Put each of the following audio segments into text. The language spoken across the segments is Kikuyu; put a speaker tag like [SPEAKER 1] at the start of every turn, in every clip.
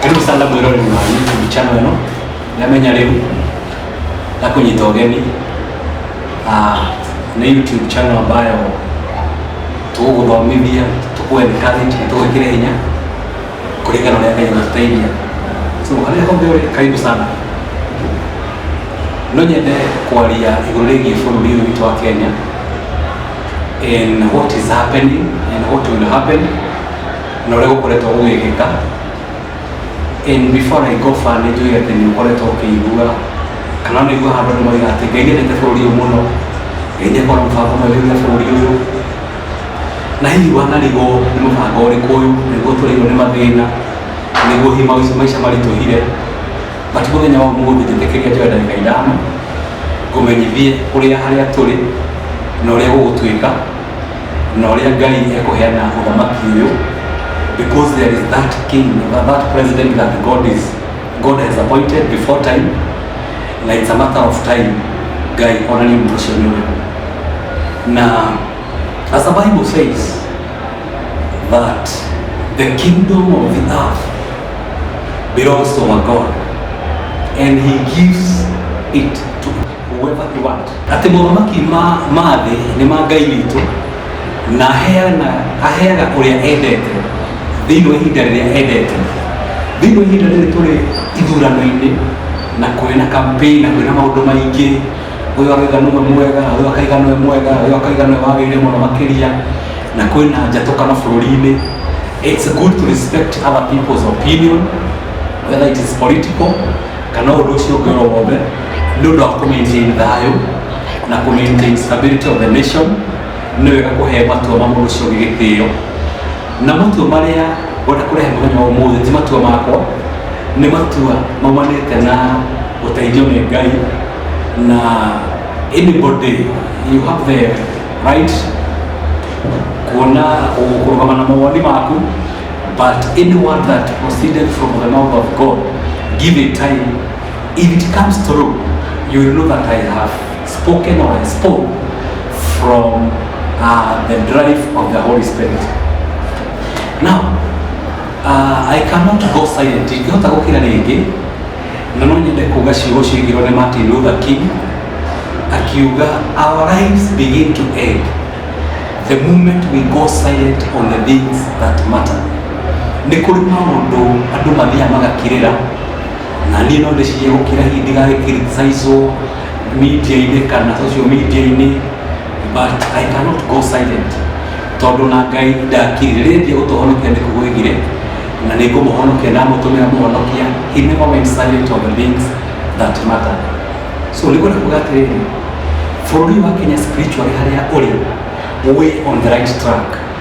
[SPEAKER 1] karibu sana mwirore na YouTube channel ĩno yamenya rĩu na kũnyita ũgeni Ah, nĩ YouTube channel ambayo tũgũgũthomithia tũkũ encourage na tũgwĩkĩre hinya kulingana na yale inastahili. So wale hombewe karibu sana no nyende kwaria iguru rigiĩ bũrũri ũyũ witũ wa Kenya in what is happening and what will happen na ũrĩa gũkoretwo gũgĩkĩka and before I go far nĩ njũĩ atĩ nĩ ũkoretwo ũkĩigua kana nĩ igua handũ nĩ moiga atĩ Ngai nĩendete bũrũri ũyũ mũno Ngai nĩ akorwo mũbango mwega na bũrũri ũyũ na hihi wanarigwo nĩ mũbango ũrĩkũ ũyũ nĩguo tũrĩirwo nĩ mathĩna nĩguo hihi maica maica maritũhire but mũthenya wa ũmũthĩ njĩtĩkĩria njoe ndagĩka ithano ngũmenyithie ũrĩa harĩa tũrĩ na ũrĩa gũgũtuĩka na ũrĩa ngai ekũheana ũthamaki ũyũ because there is that king that president that god is god has appointed before time na it's a matter of time guy ona ni mtu sio yule na as the bible says that the kingdom of the earth belongs to our god and he gives it to whoever he want ati mothamaki ma ma thĩ nĩ ma ngai witũ na aheana aheaga ũrĩa endete thĩinĩ wa ihinda rĩrĩa endete thĩinĩ wa ihinda rĩrĩ tũrĩ ithurano-inĩ na kũrĩ na campaign na kũrĩ na maũndũ maingĩ ũyũ akaiga nũwe mwega ũyũ akaiga nũwe mwega ũyũ akaiga nũwe wagĩrĩire mũno makĩria na kwĩ na njatũkano bũrũri-inĩ it's good to respect other people's opinion whether it is political kana ũndũ ũcio ũngĩ o wothe nĩ ũndũ wa kũ maintain thayũ na kũ maintain stability of the nation nĩ wega kũhe matua ma mũndũ ũcio ũngĩ gĩtĩo na matua marĩa ngwenda kũrehe mũthenya wa ũmũthĩ ti matua makwa nĩ matua maumanĩte na ũteithio nĩ ngai na anybody you have the right kuona kũrũgama na mawoni maku but any word that proceeded from the mouth of god give it time if it comes through you will know that i have spoken or I spoke from uh, the drive of the Holy Spirit. Now, uh, I cannot go silent. Ingĩhota gũkira rĩngĩ na no nyende kuga ciugo ciigirwo nĩ Martin Luther King akiuga our lives begin to end the moment we go silent on the things that matter. Nĩ kũrĩ maũndũ andũ mathiaga magakirĩra na niĩ no ndĩcirie gũkira hihi ndigagĩkiriticaicwo media-inĩ kana social media-inĩ but I cannot go silent tondũ na Ngai ndakire rĩrĩa ndio gũtũhonokia nĩ kũgwĩgire na nĩ ngũmũhonokia na mũtũmĩra mũhonokia he never went silent on the things that matter so nĩ kwenda kuga atĩrĩrĩ bũrũri wa Kenya spiritually harĩa ũrĩ we on the right track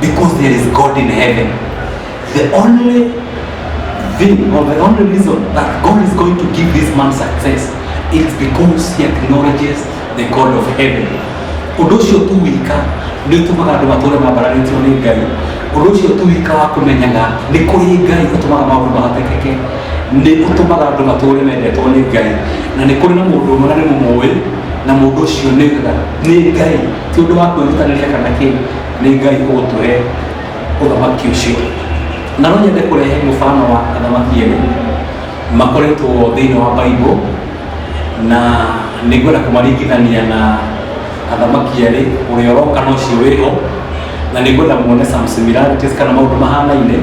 [SPEAKER 1] Because there is God in heaven. The only thing or the only reason that God is going to give this man success is because he acknowledges the God of heaven. Ũndũ ũcio tu wika nĩ ũtũmaga andũ matũũre mambaranĩtio nĩ Ngai. Ũndũ ũcio tu wika wa kũmenyaga nĩ kũrĩ Ngai ũtũmaga maũndũ mahotekeke nĩ ũtũmaga andũ matũũre mendetwo nĩ Ngai na nĩ kũrĩ na mũndũ ũmwe na nĩ mũmũĩ na mũndũ ũcio nĩ nĩ Ngai ti ũndũ wa kwĩrutanĩria kana kĩĩ nĩ ngai ũgũtũhe ũthamaki ũcio na no nyende kũrehe mũbano wa athamaki erĩ makoretwo thĩinĩ wa baibũ na nĩ ngwenda kũmaringithania na athamaki erĩ ũrĩa ũroka na ũcio wĩho na nĩ ngwenda muone some similarities kana maũndũ mahanaine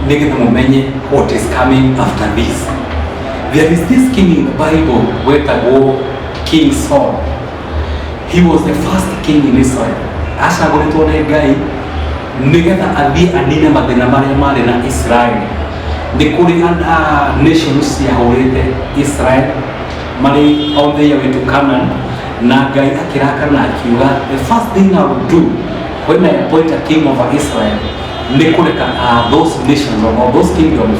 [SPEAKER 1] nĩgetha mũmenye what is coming after this there is this king in the bible wetagwo king saul he was the first king in Israel acagũrĩtwo nĩ Ngai nĩgetha athiĩ anine mathĩna marĩa marĩ na Israel nĩ kũrĩ nations ciahũrĩte Israel marĩ on their way to Canaan na Ngai akĩrakana akiuga the first thing I will do when I appoint a king over Israel nĩ kũreka uh, those nations or those kingdoms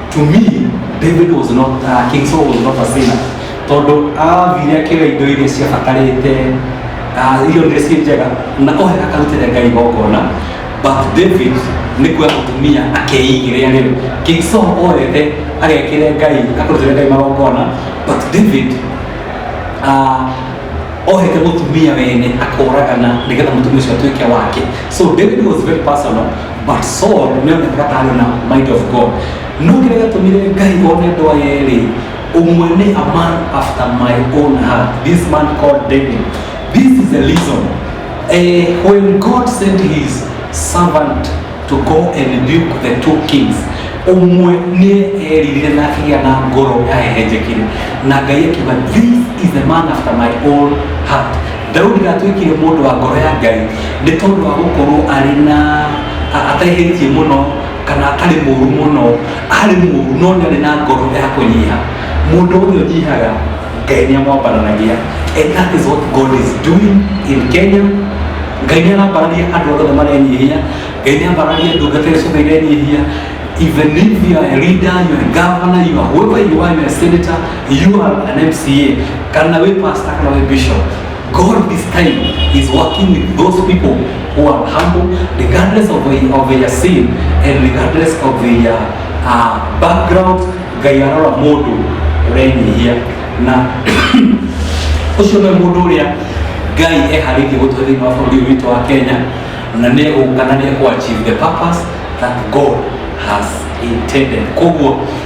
[SPEAKER 1] to me david was not uh, king saul was not a sinner tondũ athire akĩoya indo iria ciabatarĩte uh, irio iria ciĩ njega na ohe akarutĩre ngai igongona but david nĩ kuoya mũtumia akeigĩrĩa rĩu king saul oete agekĩre ngai akarutĩre ngai magongona but david uh, ohete mũtumia wene akoragana nĩgetha mũtumia ũcio atuĩke wake so david was very personal But Saul nĩ onekaga ta arĩ na might of God. No kĩrĩa gĩatũmire Ngai one andũ aya erĩ, ũmwe nĩ a man after my own heart, this man called David. This is the reason eh, when God sent his servant to go and rebuke the two kings, ũmwe nĩ eririre na akĩgĩa na ngoro yahehenjekire na Ngai akiuga this is the man after my own heart Daudi ndatuĩkire mũndũ wa ngoro ya Ngai nĩ tondũ wa gũkorwo arĩ na a- ataihĩtie mũno kana atarĩ mũru mũno arĩ mũru no nĩ arĩ na ngoro ya kũnyiha mũndũ ũrĩa ũnyihaga Ngai nĩ amwambaranagia and that is what God is doing in Kenya Ngai nĩ arambarania andũ othe marenyihia Ngai nĩ ambarania ndungata iria ciothe irenyihia even if you are a leader, you are a governor, you are whoever you are, you are a senator, You are an MCA, kana we pastor, kana we bishop. God this time is working with those people who are humble, regardless of their, of their sin and regardless of their uh, background. Ngai arora mũndũ ũrenyihia na ũcio nĩ mũndũ ũrĩa Ngai eharĩirie gũtũhe thĩinĩ wa bũrũri ũyũ witũ wa Kenya na nĩ egũka na nĩ ekũachieve the purpose that God has intended. Koguo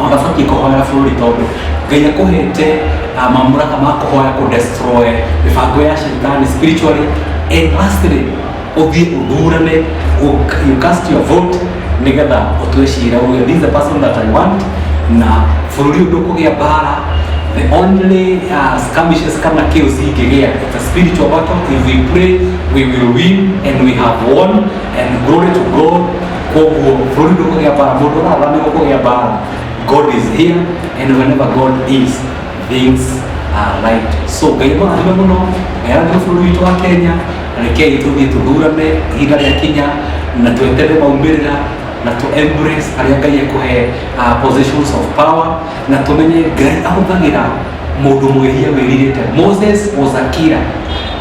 [SPEAKER 1] ona ndabatiĩ kũhoera bũrũri tondũ ngai akũhete ah, mamũraka ma kũhoya kũ destroy mĩbango ya shetani spiritually and lastly ũthiĩ ũthurane ũ- you cast your vote nĩgetha ũtue cira uge this is the person that i want na bũrũri ũyũ ndũkũgĩa mbara the only uh, skirmishes kana chaos ingĩgĩa it's a spiritual battle if we pray we will win and we have won and glory to god koguo bũrũri ndũkũgĩa bara mũndũ ũrarwa nĩ ũkũgĩa bara god is here and whenever god is things are right so ngai mũrathime mũno ngai arathime bũrũri witũ wa kenya rekei tũthiĩ tũthurane ihinda rĩa kinya na twetere maumĩrĩra na tũ embrace arĩa ngai ekũhe uh, positions of power na tũmenye ngai ahũthagĩra mũndũ mwĩhia wĩrirĩte moses was a killer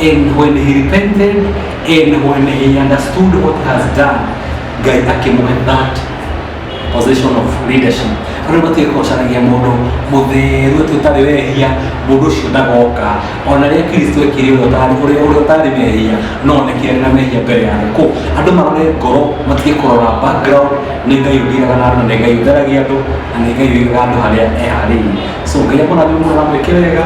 [SPEAKER 1] and when he repented And when he understood what he has done, Ngai akĩmũhe that position of leadership. Rĩu batiĩ kũcaragia mũndũ mũtheru atĩ ũtarĩ wehia, mũndũ ũcio ndagoka. Ona rĩrĩa Kristo ekire ũrĩa ũtarĩ ũrĩa ũrĩa ũtarĩ mehia, no oneke arĩ na mehia mbere ya andũ. Kũu andũ marore ngoro, matige kũrora background, nĩ Ngai ũthiaga na andũ, nĩ Ngai ũtheragia andũ, na nĩ Ngai ũigaga andũ harĩa eharĩirie. So Ngai amũrathime mũno na mwĩke wega,